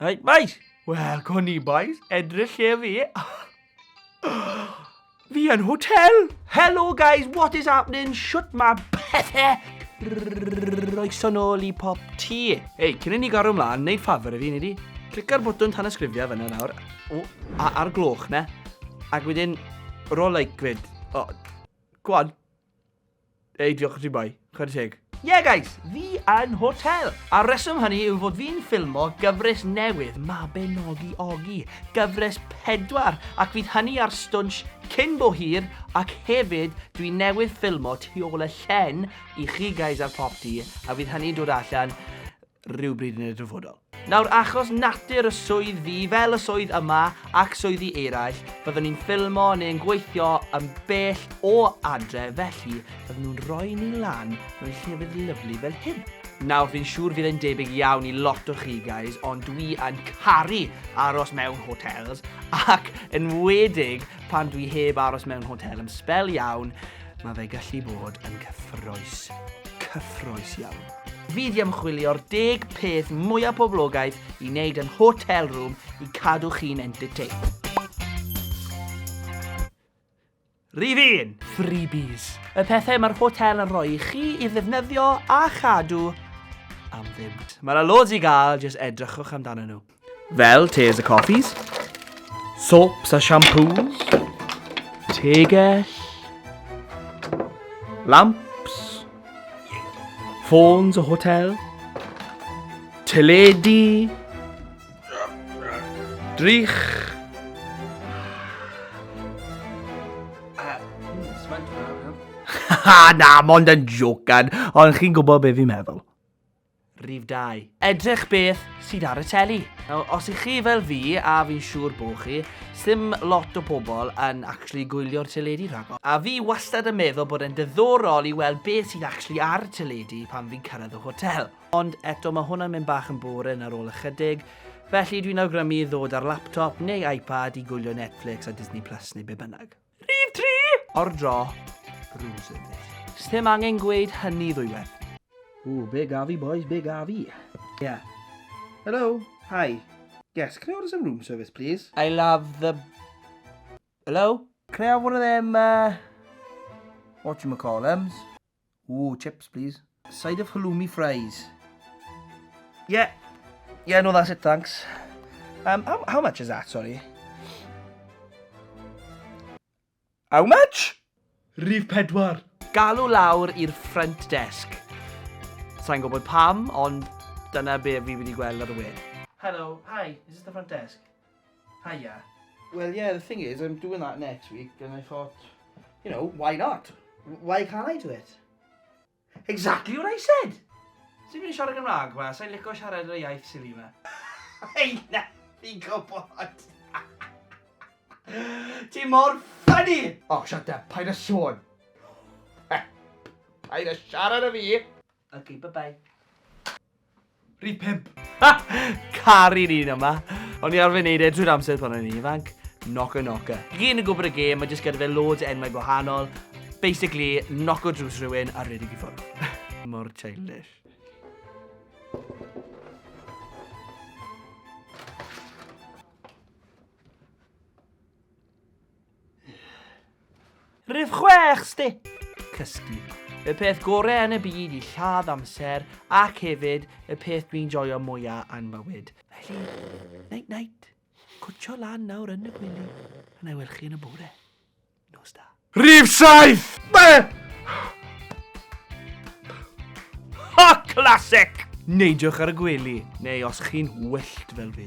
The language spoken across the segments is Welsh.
Right, boys. Wel, co ni, boys. Edrych lle fi. fi yn hotel. Hello, guys. What is happening? Shut my pethau. Roeson ôl i pop ti. Hei, cyn i ni gorau ymlaen, neud ffafr i fi, nid i. Clica'r botwn tan ysgrifio fyna nawr. O, a, ar gloch na. Ac wedyn, roll like grid. O, gwan. Ei, diolch i ti boi. Chwarae teg. Yeah guys, fi yn hotel! A'r reswm hynny yw fod fi'n ffilmo gyfres newydd Mabinogi Ogi, gyfres pedwar, ac fydd hynny ar Stwnsh cyn bo hir, ac hefyd dwi newydd ffilmo tu ôl y llen i chi guys ar Popty, a fydd hynny'n dod allan rhywbryd yn y dyfodol. Nawr, achos natur y swydd fi, fel y swydd yma ac swyddi eraill, byddwn ni'n ffilmo neu'n gweithio yn bell o adre, felly byddwn nhw'n rhoi ni lan mewn llefydd lyflu fel hyn. Nawr, fi'n siŵr fydd e'n debyg iawn i lot o chi, guys, ond dwi yn caru aros mewn hotels, ac yn wedig pan dwi heb aros mewn hotel yn sbel iawn, mae fe gallu bod yn cyffroes. Cyffroes iawn. Fydd i ymchwilio'r deg peth mwyaf poblogaidd i wneud yn hotel room i cadw chi'n entertained. Rhif 1. Freebies. Y pethau mae'r hotel yn rhoi i chi i ddefnyddio a chadw am ddim. Mae yna loads i gael, jyst edrychwch amdanyn nhw. Fel tes a coffis, soaps a shampoos, tegell, lamps, ffôns o hotel, teledu, drych, Ha, na, mond yn jocan, ond chi'n gwybod beth fi'n meddwl. Rhif dau. Edrych beth sydd ar y teli. Nawr, os ych chi fel fi, a fi'n siŵr bo chi, sdim lot o pobl yn actually gwylio'r teledu rhagor. A fi wastad yn meddwl bod e'n diddorol i weld beth sydd actually ar y teledu pan fi'n cyrraedd y hotel. Ond eto, mae hwnna'n mynd bach yn boring ar ôl ychydig, felly dwi'n awgrymu ddod â'r laptop neu iPad i gwylio Netflix a Disney Plus neu be bynnag. Rhif tri! O'r draw, Bruce yn beth. Sdim angen gweud hynny ddwywaith. Ooh, be gaf fi boys, be gaf fi. Yeah. Hello, hi. Yes, can I order some room service please? I love the... Hello? Can I have one of them, uh... Whatchamacallums? Ooh, chips please. A side of halloumi fries. Yeah. Yeah, no, that's it, thanks. Um, how, how much is that, sorry? How much? Rif pedwar. Galw lawr i'r front desk. Sa'n gwybod pam, ond dyna be fi wedi gweld ar y we. Hello, hi, is this the front desk? Hiya. Well yeah, the thing is, I'm doing that next week and I thought, you know, why not? Why can't I do it? Exactly what I said! Ti'n mynd i siarad Gymraeg ma, sa'n licio siarad yr iaith sili ma. Hei, na, fi'n gwybod. Ti mor ffynnu! Oh, shut up, paid a sôn. Paid a siarad â fi! Ok, bye bye. Rhydd pimp. Ha! Cari'r un yma. O'n i arfer neud e drwy'r amser pan o'n i'n ifanc. Knocker knocker. Gyn yn gwybod y gêm, mae jyst gyda fe loads enwau gwahanol. Basically, knock o drws rhywun a rhedeg i ffwrdd. Mor childish. Rhif 6, sti! Cysgu. Y peth gorau yn y byd i lladd amser ac hefyd y peth dwi'n joio mwya yn bywyd. Felly, night night. Cwtio lan nawr yn y gwely. A na i welch chi yn y bore. Nos da. Rhif 7! Be? Ha, classic! Neidiwch ar y gwely, neu os chi'n wyllt fel fi.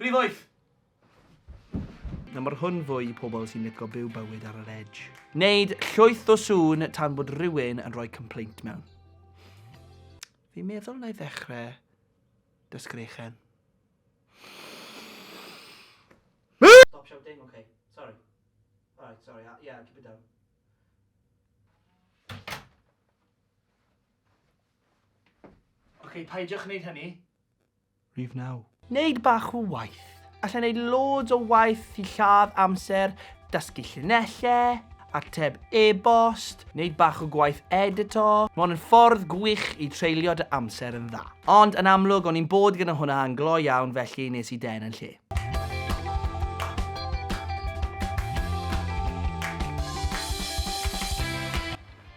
Rhif wyth! Na mae'r hwn fwy i pobl sy'n lico byw bywyd ar yr edge. Neud llwyth o sŵn tan bod rhywun yn rhoi complaint mewn. Fi'n meddwl na i ddechrau dysgrechen. Stop shouting, okay. Sorry. Alright, sorry. Uh, yeah, keep it down. Okay, paidiwch wneud hynny. Rhif 9. Neud bach o waith. Alla neud loads o waith i lladd amser, dysgu llinellau, ateb e-bost, neud bach o gwaith edito. Mae hwn yn ffordd gwych i treulio dy amser yn dda. Ond yn amlwg, o'n i'n bod gyda hwnna yn glo iawn felly nes i den yn lle.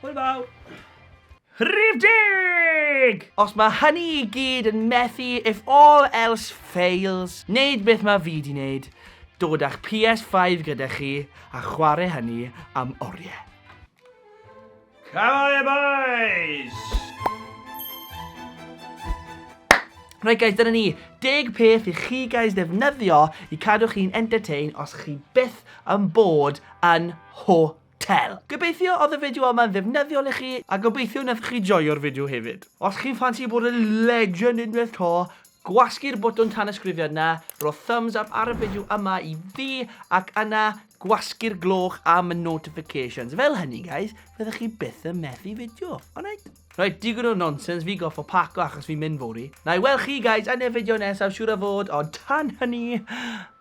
Hwyl fawr! Rhif deg! Os mae hynny i gyd yn methu if all else fails, neud beth mae fi di neud, dod a'ch PS Five gyda chi a chwarae hynny am orie. Come on boys! Right guys, dyna ni, deg peth i chi guys ddefnyddio i cadw chi'n entertain os chi byth yn bod yn hwyr. Tel. Gobeithio oedd y fideo yma'n ddefnyddiol i chi a gobeithio wnaethoch chi joio'r fideo hefyd. Os chi'n ffansi bod yn legend unwaith to, gwasgu'r botwm tanysgrifiad 'na, rho thumbs up ar y fideo yma i fi ac yna gwasgu'r gloch am y notifications. Fel hynny guys, fyddwch chi byth yn methu fideo, alright? Rhaid digon o nonsense, fi goffo paco achos fi'n mynd fori. Na i weld chi guys yn y fideo nesaf siwr o fod, ond tan hynny,